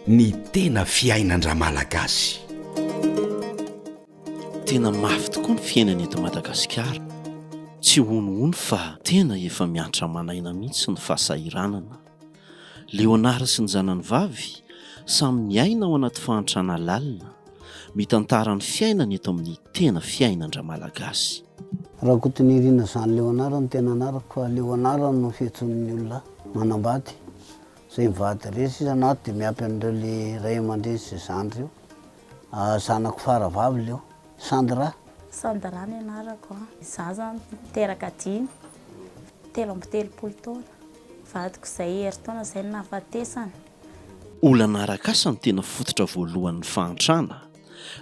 Ny tena fiainan-dRamalagasy. Tena mafy tokoa ny fiainana eto Madagasikara. Tsy honohono fa tena efa miantra aman'aina mihitsy ny fahasahiranana. Leonard sy ny zanany vavy samy miaina ao anaty fahantrana lalina. Mitantara ny fiainany eto amin'ny tena fiainan-dRamalagasy. Rakotonirina Jean Leonard ny tena anarako fa Leonard no fiantsoan'ny olona manambady izay mivady resy isan'andro dia miampy an'ireo le ray aman-dreny sy zandry io. Zanako faravavy leo, Sandra. Sandra ny anarako an. Izaho izany niteraka dimy, telo amby telopolo taona. Vadiko izay herintaona izay no nahafatesana. Olana arak'asa no tena fototra voalohan'ny fahantrana.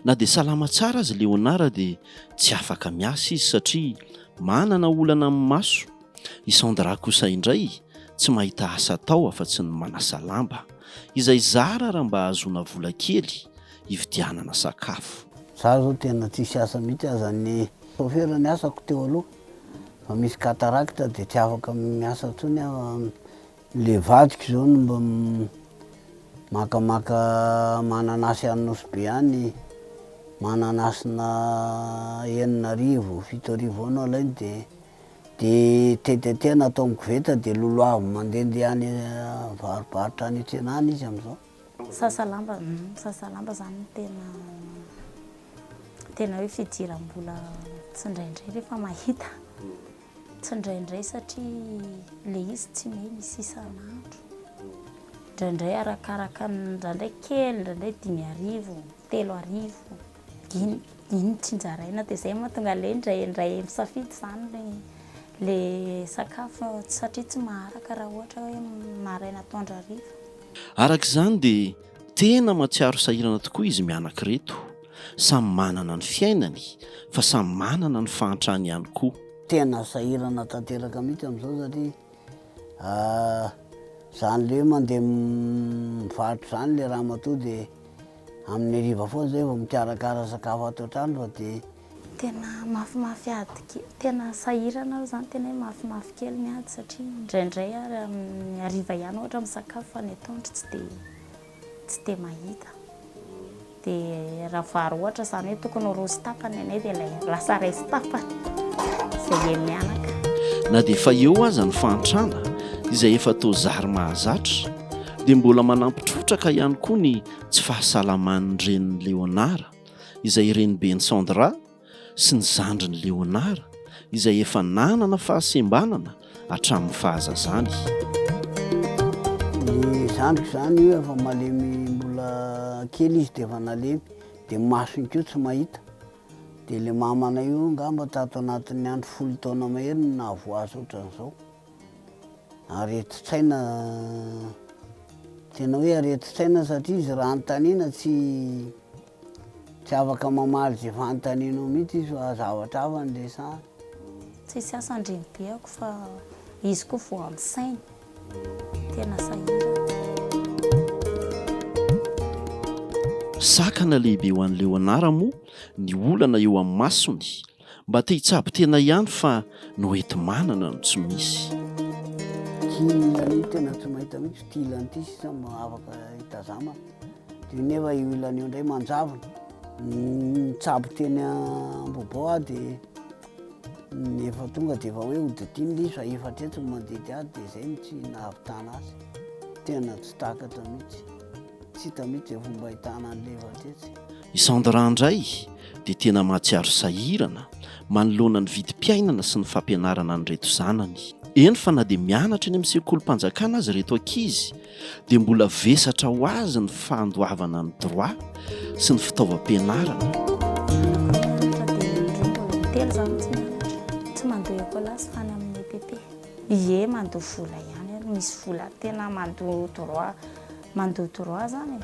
Na dia salama tsara aza i Léonard dia tsy afaka miasa izy satria manana olana amin'ny maso. I Sandra kosa indray tsy mahita asa atao afa-tsy ny manasa lamba. Izay zara raha mba ahazoana vola kely hividianana sakafo. Izaho izao tena tsisy asa mihitsy aza ny chauffeur ny asako teo aloha fa misy cataracte dia tsy afaka miasa intsony aho Le vadiko zao no mba makamaka mananasy any Nosy Be any, mananasina enina arivo, fito arivo eo no alainy de de tetetea na atao am koveta de lolohaviny mandende any avaribaritra any antsena any izy amzao. Misasa lamba, misasa lamba zany no tena tena hoe fidiram-bola tsindraindray refa mahita. Tsy indraindray satria ilay izy tsy hoe misy isan'andro. Indraindray arakaraka ny, indraindray kely, indraindray dimy arivo, telo arivo. Iny, iny tsinjaraina dia izay mahatonga ilay indraindray misafidy izany ilay ilay sakafo satria tsy maharaka raha ohatra hoe maraina atoandro hariva. Araka izany dia tena mahatsiaro sahirana tokoa izy mianak'ireto. Samy manana ny fiainany fa samy manana ny fahantrany ihany koa. Tena sahirana tanteraka mihitsy amin'izao satria izany le mandeha mivarotra izany le ramatoa de amin'ny hariva foana zay vao mikarakara sakafo ato an-trano fa de Tena mafimafy ady ke- tena sahirana aho izany tena hoe mafimafy kely ny ady satria indraindray ary amin'ny hariva ihany ohatra misakafo fa ny atoandro tsy dia. Tsy dia mahita. Dia raha vary ohatra izany hoe tokony ho roa sy tapany anay dia ilay lasa iray sy tapany izay heny mianaka. Na dia efa eo aza ny fahantrana izay efa toa zary mahazatra dia mbola manampy trotraka ihany koa ny tsy fahasalaman'ny renin'i Léonard izay reniben'i Sandra, sy ny zandriny Léonard izay efa nanana fahasembanana hatramin'ny fahazazany. Ny zandriko izany efa malemy mbola kely izy dia efa nalemy dia masony koa tsy mahita dia ilay mamanay io angamba tato anatin'ny andro folo taona mahery no nahavoazy ohatran'izao. Aretin-tsaina tena hoe aretin-tsaina satria izy raha anontaniana tsy Tsy afaka mamaly ze fanontanianao mihitsy izy fa zavatra hafa no resahana. Tsisy asa andrenibeako fa izy koa voan'ny sainy. Tena sahirana. Sakana lehibe ho an'i Leonard moa ny olana eo amin'ny masony Mba te hitsabo tena ihany fa ny hoenti-manana no tsy misy. Kinina anie tena tsy mahita mihitsy ity ilany ity sisa mba afaka hitazama dia nefa io ilany io indray manjavona. Nitsabo teny Ambohibo aho dia efa tonga dia efa hoe hodidiana ilay izy fa efa hatreto ny mandidy azy dia izay no tsy nahavitana azy. Tena tsy takatra mihitsy. Tsy hita mihitsy izay fomba ahitana an'i Leva tetsy. I Sandra indray dia tena mahatsiaro sahirana manoloana ny vidim-piainana sy ny fampianarana an'ireto zanany. Eny fa na dia mianatra eny amin'ny sekolim-panjakana aza ireto ankizy dia mbola vesatra ho azy ny fandoavana ny droit sy ny fitaovam-pianarana. Ie mandoa vola ihany ary misy vola tena mandoa droit. Mandoa droit zany e.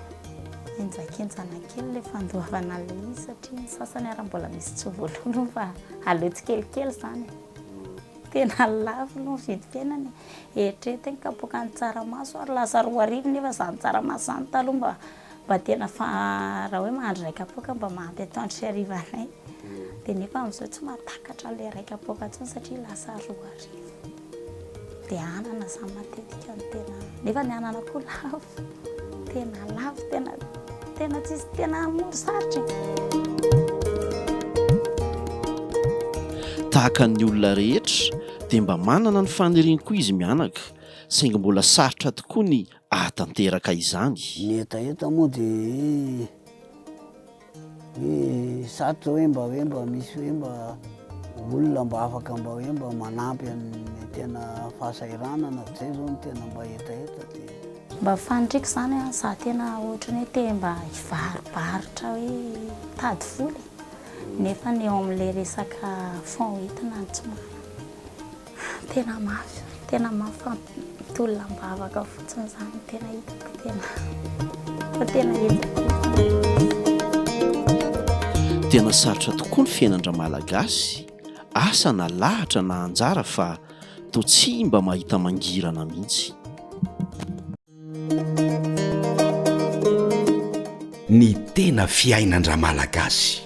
Henjakenjana kely le fandoavana le izy satria ny sasany ara mbola misy tsy voaloaloa fa aleo tsikelikely zany e. Tena lafo aloha ny vidim-piainana e. Eritrereto ny kapoaka ny tsaramaso ary lasa roa arivo nefa zany tsaramaso zany taloha mba mba tena fa raha hoe mahandro ray kapoaka mba mahampy atoandro sy hariva anay. Dia nefa amizao tsy mahatakatra an'ilay ray kapoaka intsony satria lasa roa arivo. dia anana izany matetika no tena nefa ny anana koa lafo tena lafo tena tena tsisy tena mora sarotra e. tahaka ny olona rehetra dia mba manana ny faniriany koa izy mianaka saingy mbola sarotra tokoa ny ahatanteraka izany. Ny hetaheta moa dia Hoe zato zao hoe mba hoe mba misy hoe mba olona mba afaka mba hoe mba manampy amin'ny tena fahasahiranana dia zay zao no tena mba hetaheta dia. Mba faniriako zany an, za tena ohatrany hoe te mba hivaribaritra hoe hitady vola e, nefany eo amle resaka fonds hoentina no tsy manana. Tena mafy, tena mafampitolona am-bavaka fotsiny izany, tena hitako fa tena, fa tena hetsi-po. Tena sarotra tokoa ny fiainan-dRamalagasy, asa na lahatra na anjara fa toa tsy mba mahita mangirana mihitsy. Ny tena fiainan-dRamalagasy.